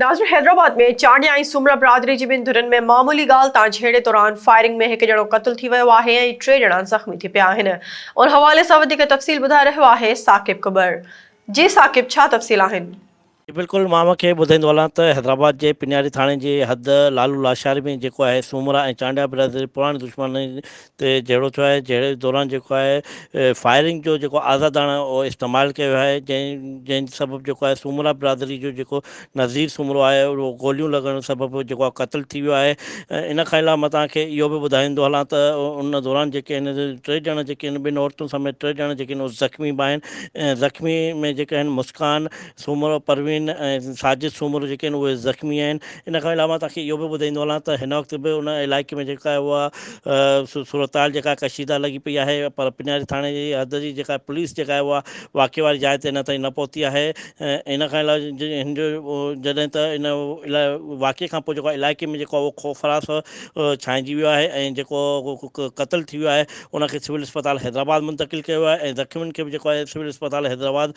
ناظر حيدرآباد ۾ چانڊيا ۽ سومرا برادري جي ٻن ڌرين ۾ معمولي ڳالهه تان جهيڙي دوران فائرنگ ۾ هڪ ڄڻو قتل ٿي ويو آهي ۽ ٽي ڄڻا زخمي ٿي پيا آهن ان حوالي سان وڌيڪ تفصيل ٻڌائي رهيو آهي ثاقب ڪٻر جي ثاقب ڇا تفصيل آهن. جي بلڪل مان اوهان کي ٻڌائيندو هلان ته حيدرآباد جي پنياري ٿاڻي جي حد لعل الله شاهري ۾ جيڪو آهي سومرا ۽ چانڊيا برادري پراڻي دشمني تي جهيڙو ٿيو آهي، جهيڙي دوران جيڪو آهي فائرنگ جو جيڪو آزاداڻو استعمال ڪيو ويو آهي، جنهن جنهن سبب جيڪو آهي سومرا برادري جو جيڪو نظير سومرو آهي اهو گوليون لڳڻ سبب جيڪو آهي قتل ٿي ويو آهي، ان کان علاوه مان توهان کي اهو به ٻڌائيندو هلان ته ان دوران جيڪي آهن ٽي ڄڻا جيڪي آهن ٻن عورتن سميت ٽي ڄڻا جيڪي آهن زخمي به آهن، زخمي ۾ جيڪي آهن مسڪان سومرو، پروين ۽ ساجد سومرو جيڪي آهن اهي زخمي آهن، ان کان علاوه مان توهان کي اهو به ٻڌائيندو هلان ته هن وقت به ان علائقي ۾ جيڪا اها صورتحال جيڪا ڪشيده لڳي پئي آهي پر پنياري ٿاڻي جي حد جي جيڪا پوليس جيڪا آهي اها واقعي واري جاء تي اڃا تائين نه پهتي آهي ان کان علاوه هن جو جڏهن ته ان واقعي کان پوء جيڪو علائقي ۾ جيڪو اهو خوف فراس ڇانئجي ويو آهي ۽ جيڪو قتل ٿي ويو آهي ان کي سول اسپتال حيدرآباد منتقل ڪيو ويو آهي ۽ زخمين کي به جيڪو آهي سول اسپتال حيدرآباد